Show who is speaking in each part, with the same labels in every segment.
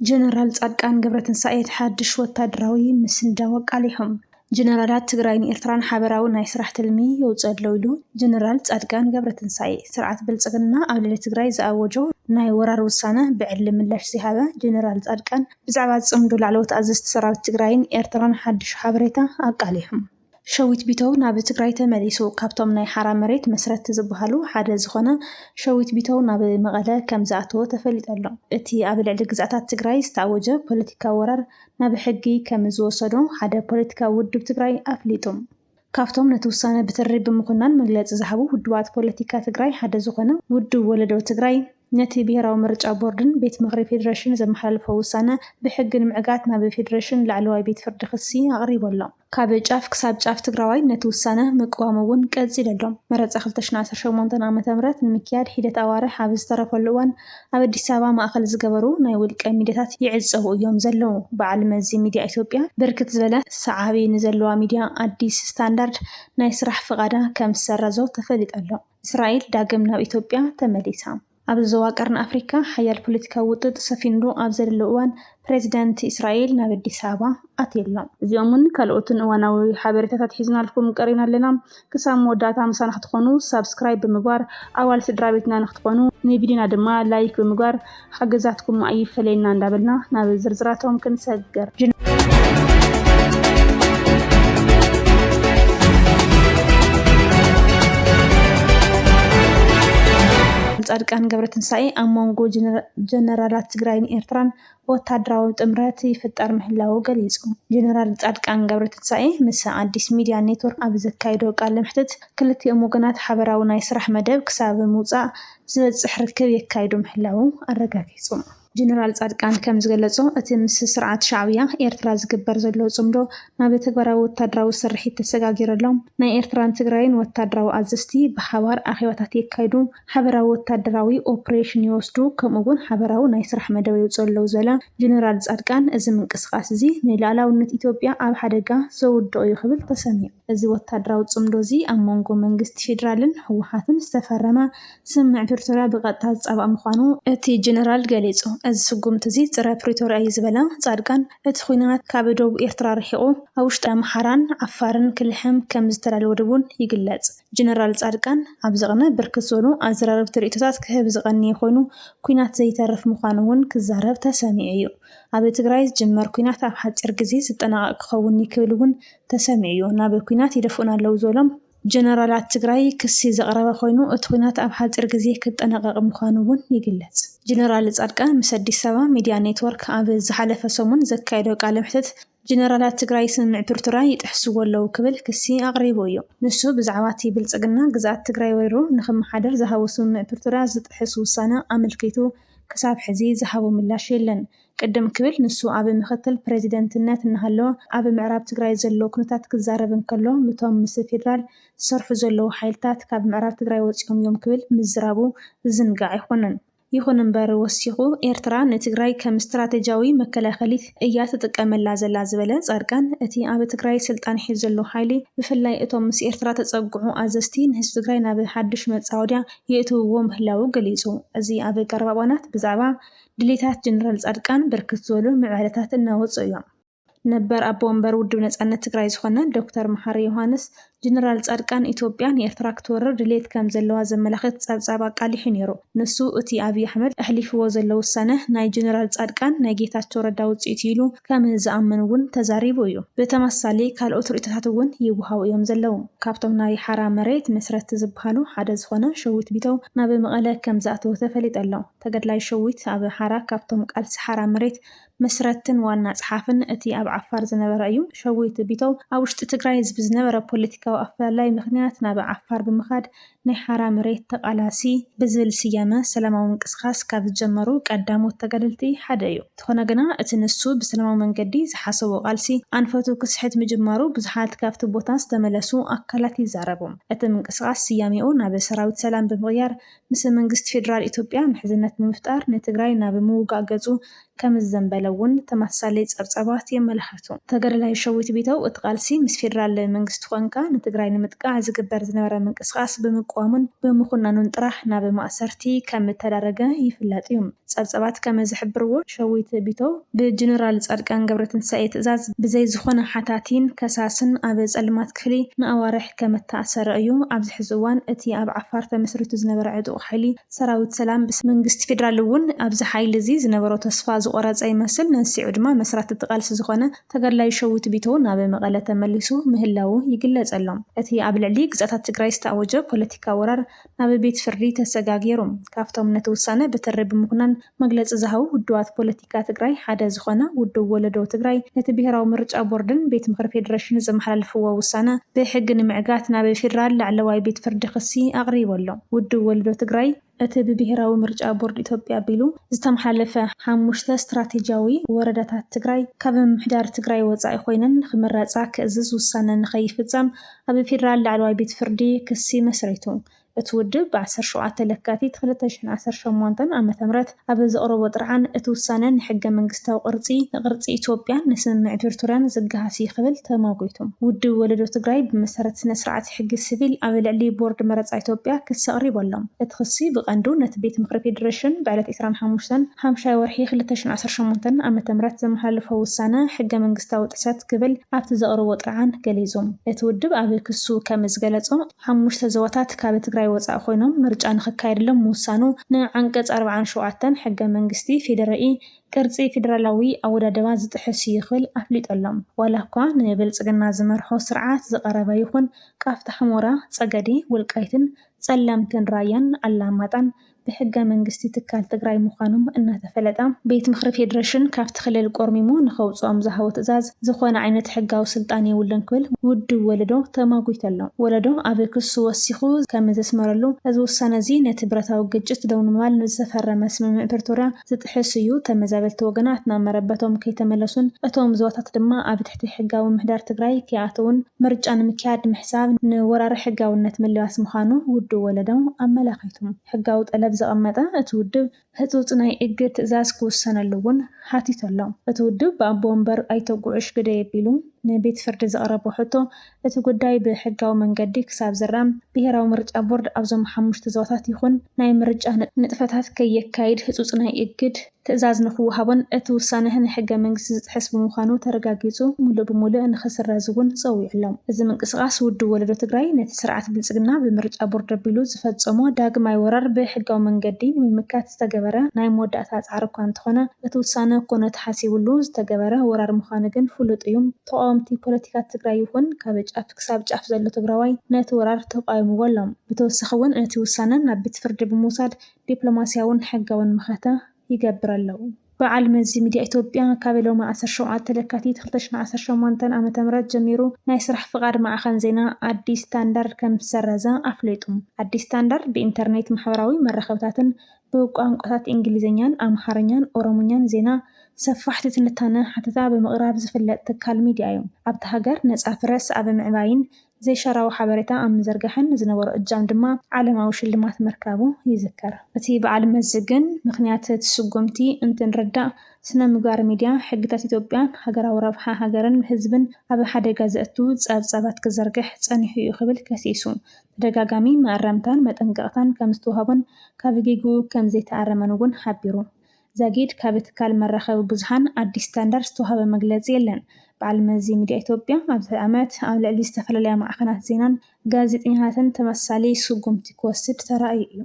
Speaker 1: ጀነራል ፃድቃን ገብረትንሳኤ እቲ ሓድሽ ወታደራዊ ምስንዳው ኣቃሊሖም። ጀነራላት ትግራይን ኤርትራን ሓበራዊ ናይ ስራሕ ትልሚ የውፅእ ኣሎ ኢሉ ጀነራል ፃድቃን ገብረትንሳኤ። ስርዓት ብልፅግና ኣብ ልዕሊ ትግራይ ዝኣወጆ ናይ ወራር ውሳነ ብዕሊ ምላሽ ዝሃበ ጀነራል ፃድቃን ብዛዕባ ፅምዶ ላዕለዎት ኣዘዝቲ ሰራዊት ትግራይን ኤርትራን ሓድሽ ሓበሬታ ኣቃሊሖም። ሸዊት ቢተው ናብ ትግራይ ተመሊሱ። ካብቶም ናይ ሓራ መሬት መስረትቲ ዝበሃሉ ሓደ ዝኾነ ሸዊት ቢተው ናብ መቐለ ከም ዝኣተወ ተፈሊጡ ኣሎ። እቲ ኣብ ልዕሊ ግዝኣታት ትግራይ ዝተኣወጀ ፖለቲካዊ ወራር ናብ ሕጊ ከም ዝወሰዶ ሓደ ፖለቲካዊ ውድብ ትግራይ ኣፍሊጡ። ካብቶም ነቲ ውሳነ ብትሪ ብምኹናን መግለፂ ዝሃቡ ውድባት ፖለቲካ ትግራይ ሓደ ዝኾነ ውድብ ወለዶ ትግራይ ነቲ ብሄራዊ ምርጫ ቦርድን ቤት ምኽሪ ፌዴሬሽን ዘመሓላለፎ ውሳነ ብሕጊ ንምዕጋት ናብ ፌዴሬሽን ላዕለዋይ ቤት ፍርዲ ክሲ ኣቕሪቡ ኣሎ። ካብ ጫፍ ክሳብ ጫፍ ትግራዋይ ነቲ ውሳነ ምቅዋሙ እውን ቀፂሉ ኣሎ። መረፃ ክልተ ሽሕን ዓሰርተ ሸሞንተን ዓ ም ንምክያድ ሒደት ኣዋርሕ ኣብ ዝተረፈሉ እዋን ኣብ ኣዲስ ኣበባ ማእኸል ዝገበሩ ናይ ውልቀ ሚድያታት ይዕፀዉ እዮም ዘለዉ። በዓል መዚ ሚድያ ኢትዮጵያ ብርክት ዝበለ ሰዓቢ ንዘለዋ ሚድያ ኣዲስ ስታንዳርድ ናይ ስራሕ ፍቓዳ ከምዝሰረዞ ተፈሊጡ ኣሎ። እስራኤል ዳግም ናብ ኢትዮጵያ ተመሊሳ። ኣብዚ ዞባ ቀርኒ ኣፍሪካ ሓያል ፖለቲካዊ ውጥጥ ሰፊንሉ ኣብ ዘለሉ እዋን ፕሬዚዳንት እስራኤል ናብ ኣዲስ ኣበባ ኣትዩ ኣሎ። እዚኦምን ካልኦትን እዋናዊ ሓበሬታታት ሒዝናልኩም ቀሪብና ኣለና። ክሳብ መወዳእታ ምሳና ክትኾኑ ሳብስክራይብ ብምግባር ኣባል ስድራቤትና ንክትኾኑ ንቪድዮና ድማ ላይክ ብምግባር ሓገዛትኩም ኣይፈለየና እንዳበልና ናብ ዝርዝራቶም ክንሰግር። ፃድቃን ገብረትንሳኤ ኣብ መንጎ ጀነራላት ትግራይን ኤርትራን ወታደራዊ ጥምረት ይፍጠር ምህላዉ ገሊፁ። ጀነራል ፃድቃን ገብረትንሳኤ ምስ ኣዲስ ሚድያ ኔትወርክ ኣብ ዘካየዶ ቃለ መሕትት ክልቲኦም ወገናት ሓበራዊ ናይ ስራሕ መደብ ክሳብ ምውፃእ ዝበፅሕ ርክብ የካይዱ ምህላዉ ኣረጋጊፁ። ጀነራል ፃድቃን ከም ዝገለፆ፣ እቲ ምስ ስርዓት ሻዕብያ ኤርትራ ዝግበር ዘሎ ፅምዶ ናብ ተግባራዊ ወታደራዊ ስርሒት ተሰጋጊረሎም ናይ ኤርትራን ትግራይን ወታደራዊ ኣዘዝቲ ብሓባር ኣኼባታት የካይዱ፣ ሓበራዊ ወታደራዊ ኦፕሬሽን ይወስዱ ከምኡ እውን ሓበራዊ ናይ ስራሕ መደብ የውፅኡ ኣለው ዝበለ ጀነራል ፃድቃን፣ እዚ ምንቅስቓስ እዚ ንልኣላውነት ኢትዮጵያ ኣብ ሓደጋ ዘውድቕ እዩ ክብል ተሰሚዑ። እዚ ወታደራዊ ጽምዶ'ዚ ኣብ መንጎ መንግስቲ ፌደራልን ህወሓትን ዝተፈረመ ስምምዕ ፕሪቶርያ ብቐጥታ ዝጻባእ ምዃኑ እቲ ጀነራል ገሊጹ። እዚ ስጉምቲ'ዚ ጸረ ፕሪቶርያ'ዩ ዝበለ ጻድቃን፣ እቲ ኲናት ካብ ዶብ ኤርትራ ርሒቑ ኣብ ውሽጢ ኣምሓራን ዓፋርን ክልሕም ከም ዝተዳለወ ድ'ውን ይግለጽ። ጀነራል ጻድቃን ኣብዚ ቅነ ብርክት ዝበሉ ኣዘራረብቲ ርእይቶታት ክህብ ዝቐነየ ኮይኑ፣ ኲናት ዘይተርፍ ምዃኑ'ውን ክዛረብ ተሰሚዑ'ዩ። ኣብ ትግራይ ዝጅመር ኲናት ኣብ ሓጺር ግዜ ዝጠናቐቕ ክኸውን'ዩ ክብል'ውን ተሰሚዑ'ዩ፣ ናብ ኲናት ይደፍኡና ኣለዉ ዝበሎም ጀነራላት ትግራይ ክሲ ዘቕረበ ኮይኑ፣ እቲ ኲናት ኣብ ሓፂር ግዜ ክጠናቐቕ ምዃኑ እውን ይግለፅ። ጀነራል ፃድቃን ምስ ኣዲስ ኣበባ ሚድያ ኔትወርክ ኣብ ዝሓለፈ ሰሙን ዘካየዶ ቃለ መሕትት ጀነራላት ትግራይ ስምምዕ ፕሪቶርያ ይጥሕስዎ ኣለዉ ክብል ክሲ ኣቕሪቡ እዩ። ንሱ ብዛዕባ እቲ ብልፅግና ግዝኣት ትግራይ ወሪሩ ንኽመሓደር ዝሃቦ ስምምዕ ፕሪቶርያ ዝጥሕስ ውሳነ ኣመልኪቱ ክሳብ ሕዚ ዝሃቦ ምላሽ የለን። ቅድም ክብል ንሱ ኣብ ምክትል ፕረዚደንትነት እናሃለወ ኣብ ምዕራብ ትግራይ ዘሎ ኩነታት ክዛረብ እንከሎ ምቶም ምስ ፌደራል ዝሰርሑ ዘለዉ ሓይልታት ካብ ምዕራብ ትግራይ ወፂኦም እዮም ክብል ምዝራቡ ዝዝንጋዕ ኣይኮነን። ይኹን እምበር ወሲኹ ኤርትራ ንትግራይ ከም ስትራቴጂያዊ መከላኸሊት እያ ትጥቀመላ ዘላ ዝበለ ፃድቃን እቲ ኣብ ትግራይ ስልጣን ሒዙ ዘሎ ሓይሊ ብፍላይ እቶም ምስ ኤርትራ ተፀግዑ ኣዘዝቲ ንህዝቢ ትግራይ ናብ ሓዱሽ መፃወድያ የእትውዎ ምህላዉ ገሊፁ። እዚ ኣብ ቀረባ እዋናት ብዛዕባ ድሌታት ጀነራል ፃድቃን ብርክት ዝበሉ ምዕባለታት እናወፅኡ እዮም። ነበር ኣቦ ወንበር ውድብ ነፃነት ትግራይ ዝኾነ ዶክተር መሓሪ ዮሃንስ ጀነራል ፃድቃን ኢትዮጵያ ንኤርትራ ክትወርር ድሌት ከም ዘለዋ ዘመላኽት ፀብፃብ ኣቃሊሑ ነይሩ። ንሱ እቲ ኣብይ ኣሕመድ ኣሕሊፍዎ ዘሎ ውሳነ ናይ ጀነራል ፃድቃን ናይ ጌታቸው ረዳ ውፅኢት እዩ ኢሉ ከም ዝኣምን እውን ተዛሪቡ እዩ። ብተመሳሳሊ ካልኦት ርኢቶታት እውን ይወሃቡ እዮም ዘለዉ። ካብቶም ናይ ሓራ መሬት መስረትቲ ዝበሃሉ ሓደ ዝኾነ ሸዊት ቢተው ናብ መቐለ ከም ዝኣተወ ተፈሊጡ ኣሎ። ተጋድላይ ሸዊት ኣብ ሓራ ካብቶም ቃልሲ ሓራ መሬት መስረትቲን ዋና ጸሓፍን እቲ ኣብ ዓፋር ዝነበረ እዩ። ሸዊት ቢተው ኣብ ውሽጢ ትግራይ ብዝነበረ ፖለቲካዊ ኣፈላላይ ምኽንያት ናብ ዓፋር ብምኻድ ናይ ሓራ መሬት ተቓላሲ ብዝብል ስያመ ሰላማዊ ምንቅስቓስ ካብ ዝጀመሩ ቀዳሞት ተጋደልቲ ሓደ እዩ። እንተኾነ ግና እቲ ንሱ ብሰላማዊ መንገዲ ዝሓሰቦ ቃልሲ ኣንፈቱ ክስሕት ምጅማሩ ብዙሓት ካብቲ ቦታ ዝተመለሱ ኣካላት ይዛረቡ። እቲ ምንቅስቓስ ስያሜኡ ናብ ሰራዊት ሰላም ብምቕያር ምስ መንግስቲ ፌደራል ኢትዮጵያ ምሕዝነት ብምፍጣር ንትግራይ ናብ ምውጋእ ገጹ ከምዘዘንበለ እውን ተመሳሳሊ ጸብጻባት የመላኽቱ። ተጋዳላይ ሸዊት ቢተው እቲ ቃልሲ ምስ ፌደራል መንግስቲ ኮንካ ንትግራይ ንምጥቃዕ ዝግበር ዝነበረ ምንቅስቓስ ብምቅዋሙን ብምኹናኑን ጥራሕ ናብ ማእሰርቲ ከምእተዳረገ ይፍለጥ እዩ። ጸብጻባት ከመዝሕብርዎ፣ ሸዊት ቢተው ብጀነራል ጻድቃን ገብረትንሳኤ ትእዛዝ ብዘይ ዝኾነ ሓታቲን ከሳስን ኣብ ጸልማት ክፍሊ ንኣዋርሕ፣ ከም እተኣሰረ እዩ። ኣብዚ ሕዚ እዋን እቲ ኣብ ዓፋር ተመስሪቱ ዝነበረ ዕጡቕ ሓይሊ ሰራዊት ሰላም ብስም መንግስቲ ፌደራል እውን ኣብዚ ሓይሊ እዚ ዝነበሮ ተስፋ ዝቖረፀ ይመስል። መንስዒኡ ድማ መስራቲ እቲ ቃልሲ ዝኾነ ተጋድላይ ሸዊት ቢተው ናብ መቐለ ተመሊሱ ምህላዉ ይግለፀሎም። እቲ ኣብ ልዕሊ ግዝኣታት ትግራይ ዝተኣወጀ ፖለቲካዊ ወራር ኣብ ቤት ፍርዲ ተሰጋጊሩ። ካብቶም ነቲ ውሳነ ብትሪ ብምኹናን መግለፂ ዝሃቡ ውድባት ፖለቲካ ትግራይ ሓደ ዝኾነ ውድብ ወለዶ ትግራይ ነቲ ብሄራዊ ምርጫ ቦርድን ቤት ምኽሪ ፌዴሬሽን ዘመሓላለፍዎ ውሳነ ብሕጊ ንምዕጋት ናብ ፌዴራል ላዕለዋይ ቤት ፍርዲ ክሲ ኣቕሪቡ ኣሎ። ውድብ ወለዶ ትግራይ፣ እቲ ብብሄራዊ ምርጫ ቦርድ ኢትዮጵያ ኣቢሉ ዝተመሓላለፈ ሓሙሽተ ስትራቴጂያዊ ወረዳታት ትግራይ ካብ ምምሕዳር ትግራይ ወፃኢ ኮይነን ንክምረፃ ክእዝዝ ውሳነ ንከይፍፀም ኣብ ፌደራል ላዕለዋይ ቤት ፍርዲ ክሲ መስሪቱ። እቲ ውድብ ብ ዓሰርተ ሸውዓተ ለካቲት ክልተ ሽሕን ዓሰርተ ሸሞንተን ዓ ም ኣብ ዘቕረቦ ጥርዓን እቲ ውሳነ ንሕገ መንግስታዊ ቅርጺ፣ ንቅርጺ ኢትዮጵያን ንስምምዕ ፕሪቶርያን ዝገሃስ እዩ ክብል ተሟጒቱ። ውድብ ወለዶ ትግራይ ብመሰረት ስነ ስርዓት ሕጊ ስቪል ኣብ ልዕሊ ቦርድ መረጻ ኢትዮጵያ ክሲ ኣቕሪቡ ኣሎ። እቲ ክሲ ብቀንዱ ነቲ ቤት ምኽሪ ፌደሬሽን ብዕለት ዕስራን ሓሙሽተን ሓምሻይ ወርሒ ክልተ ሽሕን ዓሰርተ ሸሞንተን ዓመተ ምህረት ዘመሓላለፎ ውሳነ ሕገ መንግስታዊ ጥሕሰት ክብል ኣብቲ ዘቕረቦ ጥርዓን ገሊጹ። እቲ ውድብ ኣብ ክሱ ከም ዝገለጾ፣ ሓሙሽተ ዞባታት ካብ ትግራይ ወጻኢ ኮይኖም ምርጫ ንኽካየድሎም ምውሳኑ ንዓንቀጽ ኣርብዓን ሸውዓተን ሕገ መንግስቲ ፌዴሪኢ ቅርጺ ፌዴራላዊ ኣወዳድባ ዝጥሕስ እዩ ክብል ኣፍሊጡ ኣሎ። ዋላ እኳ ንብልጽግና ዝመርሖ ስርዓት ዝቐረበ ይኹን ቃፍታ ሑመራ፣ ጸገዴ፣ ወልቃይትን ጸለምትን ራያን ኣላማጣን ብሕገ መንግስቲ ትካል ትግራይ ምዃኖም እናተፈለጠ ቤት ምኽሪ ፌዴሬሽን ካብቲ ክልል ቆርሚሙ ንከውፅኦም ዝሃቦ ትእዛዝ ዝኾነ ዓይነት ሕጋዊ ስልጣን የብሉን ክብል ውድብ ወለዶ ተማጒቱ ኣሎ። ወለዶ ኣብ ክሱ ወሲኹ ከምዘስመረሉ እዚ ውሳነ እዚ ነቲ ብረታዊ ግጭት ደው ንምባል ንዝተፈረመ ስምምዕ ፕሪቶርያ ዝጥሕስ እዩ፣ ተመዛበልቲ ወገናት ናብ መረበቶም ከይተመለሱን እቶም ዞባታት ድማ ኣብ ትሕቲ ሕጋዊ ምምሕዳር ትግራይ ከይኣተዉን ምርጫ ንምክያድ ምሕሳብ ንወራሪ ሕጋውነት ምልባስ ምዃኑ ውድብ ወለዶ ኣመላኺቱ ሕጋዊ ጠለብ ዘቐመጠ እቲ ውድብ ህፁፅ ናይ እግድ ትእዛዝ ክውሰነሉ እውን ሓቲቱ ኣሎ። እቲ ውድብ ብኣቦ ወንበር ኣይተ ጉዑሽ ግደይ ኣቢሉ ንቤት ፍርዲ ዘቕረቦ ሕቶ እቲ ጉዳይ ብሕጋዊ መንገዲ ክሳብ ዝራም፣ ብሄራዊ ምርጫ ቦርድ ኣብዞም ሓሙሽተ ዞባታት ይኹን ናይ ምርጫ ንጥፈታት ከየካይድ ህፁፅ ናይ እግድ ትእዛዝ ንክወሃቦን እቲ ውሳነህ ንሕገ መንግስቲ ዝጥሕስ ብምዃኑ ተረጋጊፁ ሙሉእ ብሙሉእ ንክስረዝ እውን ፀዊዑሎም። እዚ ምንቅስቓስ ውድብ ወለዶ ትግራይ ነቲ ስርዓት ብልፅግና ብምርጫ ቦርድ ኣቢሉ ዝፈፀሞ ዳግማይ ወራር ብሕጋዊ መንገዲ ንምምካት ዝተገበረ ናይ መወዳእታ ፃዕሪ እኳ እንተኾነ እቲ ውሳነ ኮነ ተሓሲብሉ ዝተገበረ ወራር ምዃኑ ግን ፍሉጥ እዩ። ተቓወምቲ ፖለቲካ ትግራይ ይኹን ካብ ጫፍ ክሳብ ጫፍ ዘሎ ትግራዋይ ነቲ ወራር ተቓዊምዎ ኣሎ። ብተወሳኺ እውን ነቲ ውሳነ ናብ ቤት ፍርዲ ብምውሳድ ዲፕሎማሲያውን ሕጋውን መኸተ ይገብር ኣሎ። በዓል መዚ ሚድያ ኢትዮጵያ ካብ ሎሚ ዓሰርተ ሸውዓተ ለካቲት ክልተ ሽሕን ዓሰርተ ሸሞንተን ዓመተ ምህረት ጀሚሩ ናይ ስራሕ ፍቓድ ማዕኸን ዜና ኣዲስ ስታንዳርድ ከምዝሰረዘ ኣፍሊጡ። ኣዲስ ስታንዳርድ ብኢንተርኔት፣ ማሕበራዊ መራኸብታትን ብቋንቋታት እንግሊዝኛን ኣምሓርኛን ኦሮምኛን ዜና፣ ሰፋሕቲ ትንታነ፣ ሓተታ ብምቕራብ ዝፍለጥ ትካል ሚዲያ'ዩ። ኣብታ ሃገር ነጻ ፕረስ ኣብ ምዕባይን ዘይሻራዊ ሓበሬታ ኣብ ምዝርጋሕን ዝነበሮ እጃም ድማ ዓለማዊ ሽልማት ምርካቡ ይዝከር። እቲ በዓል መዚ ግን ምኽንያት እቲ ስጉምቲ እንትንርዳእ፣ ስነ-ምግባር ሚዲያ፣ ሕግታት ኢትዮጵያን ሃገራዊ ረብሓ ሃገርን ህዝብን ኣብ ሓደጋ ዘእቱ ጸብጻባት ክዝርግሕ ጸኒሑ'ዩ ክብል ከሲሱ። ተደጋጋሚ መኣረምታን መጠንቀቕታን ከምዝተውሃቦን ካብ ጌግኡ ከምዘይተኣረመን እውን ሓቢሩ። ዛጊድ ካብ ትካል መራኸቢ ብዙሓን ኣዲስ ስታንዳርድ ዝተውሃበ መግለጺ የለን። በዓል መዚ ሚድያ ኢትዮጵያ ኣብዚ ዓመት ኣብ ልዕሊ ዝተፈላለያ ማዕኸናት ዜናን ጋዜጠኛታትን ተመሳሳሊ ስጉምቲ ክወስድ ተራእዩ እዩ።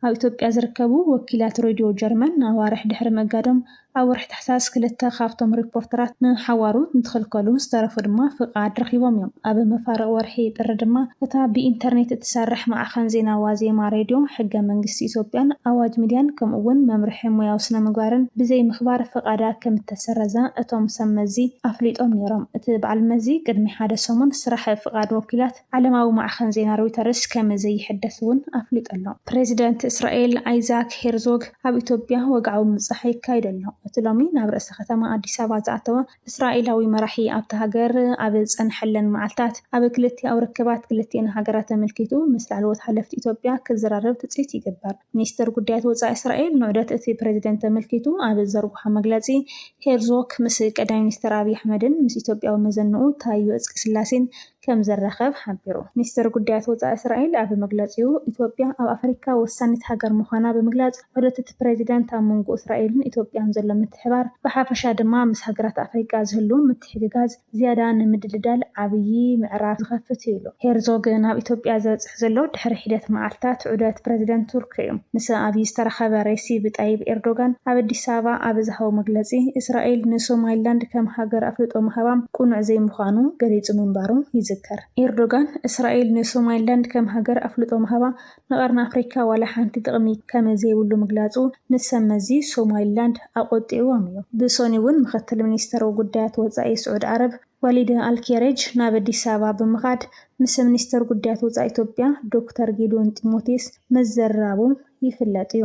Speaker 1: ኣብ ኢትዮጵያ ዝርከቡ ወኪላት ሬድዮ ጀርመን ኣዋርሕ ድሕሪ ምእጋዶም፣ ኣብ ወርሒ ታሕሳስ ክልተ ካብቶም ሪፖርተራት ንሓዋሩ እንትኽልከሉ፣ ዝተረፉ ድማ ፍቓድ ረኺቦም እዮም። ኣብ መፋርቕ ወርሒ ጥሪ ድማ፣ እታ ብኢንተርኔት እትሰርሕ ማዕኸን ዜና ዋዜማ ሬድዮ፣ ሕገ መንግስቲ ኢትዮጵያን ኣዋጅ ሚድያን ከምኡ'ውን መምርሒ ሞያዊ ስነ-ምግባርን ብዘይምኽባር ፍቓዳ ከምእተሰረዛ እቶም ሰብ መዚ ኣፍሊጦም ነይሮም። እቲ በዓል መዚ ቅድሚ ሓደ ሰሙን ስራሕ ፍቓድ ወኪላት ዓለማዊ ማዕኸን ዜና ሮይተርስ ከም ዘይሕደስ እውን ኣፍሊጡ ኣሎ። ፕረዚደንት እስራኤል ኣይዛክ ሄርዞግ ኣብ ኢትዮጵያ ወግዓዊ ምብጻሕ የካይድ ኣሎ። እቲ ሎሚ ናብ ርእሰ ከተማ ኣዲስ ኣበባ ዝኣተወ እስራኤላዊ መራሒ ኣብታ ሃገር ኣብ ዝጸንሐለን መዓልታት ኣብ ክልቲኣዊ ርክባት ክልቲኤን ሃገራት ኣመልኪቱ ምስ ላዕለዎት ሓለፍቲ ኢትዮጵያ ክዘራረብ ትጽቢት ይግበር። ሚኒስተር ጉዳያት ወጻኢ እስራኤል ንዑደት እቲ ፕረዚደንት ኣመልኪቱ ኣብ ዝዘርግሖ መግለጺ ሄርዞግ ምስ ቀዳማይ ሚኒስተር ኣብይ ኣሕመድን ምስ ኢትዮጵያዊ መዘንኡ ታዮ እጽቀስላሴን ከም ዝራኸብ ሓቢሩ። ሚኒስተር ጉዳያት ወጻኢ እስራኤል ኣብ መግለጺኡ፣ ኢትዮጵያ ኣብ ኣፍሪቃ ወሳኒት ሃገር ምዃና ብምግላጽ፣ ዑደት'ቲ ፕረዚደንት ኣብ መንጎ እስራኤልን ኢትዮጵያን ዘሎ ምትሕብባር፣ ብሓፈሻ ድማ ምስ ሃገራት ኣፍሪቃ ዝህሉ ምትሕግጋዝ ዝያዳ ንምድልዳል ዓብዪ ምዕራፍ ዝኸፍት'ዩ ኢሉ። ሄርዞግ ናብ ኢትዮጵያ ዘብጽሐ ዘሎ ድሕሪ ሒደት መዓልታት ዑደት ፕረዚደንት ቱርኪ'ዩ። ምስ ኣብዪ ዝተራኸበ ሬሲብ ጣይብ ኤርዶጋን ኣብ ኣዲስ ኣበባ ኣብ ዝሃቦ መግለጺ፣ እስራኤል ንሶማሊላንድ ከም ሃገር ኣፍልጦ ምሃባ ቅኑዕ ዘይምዃኑ ገሊጹ ምንባሩ ይዝከር። ኤርዶጋን፣ እስራኤል ንሶማሊላንድ ከም ሃገር ኣፍልጦ ምሃባ ንቀርኒ ኣፍሪካ ዋላ ሓንቲ ጥቕሚ ከም ዘይብሉ ምግላጹ ንሰብ መዚ ሶማሊላንድ ኣቖጢዕዎም'ዩ። ብሰኑይ'ውን ምኽትል ሚኒስተር ጉዳያት ወጻኢ ስዑድ ዓረብ ወሊድ ኣልኬሬጅ ናብ ኣዲስ ኣበባ ብምኻድ ምስ ሚኒስተር ጉዳያት ወፃኢ ኢትዮጵያ ዶክተር ጌዲዮን ጢሞቴዎስ ምዝርራቡ ይፍለጥ እዩ።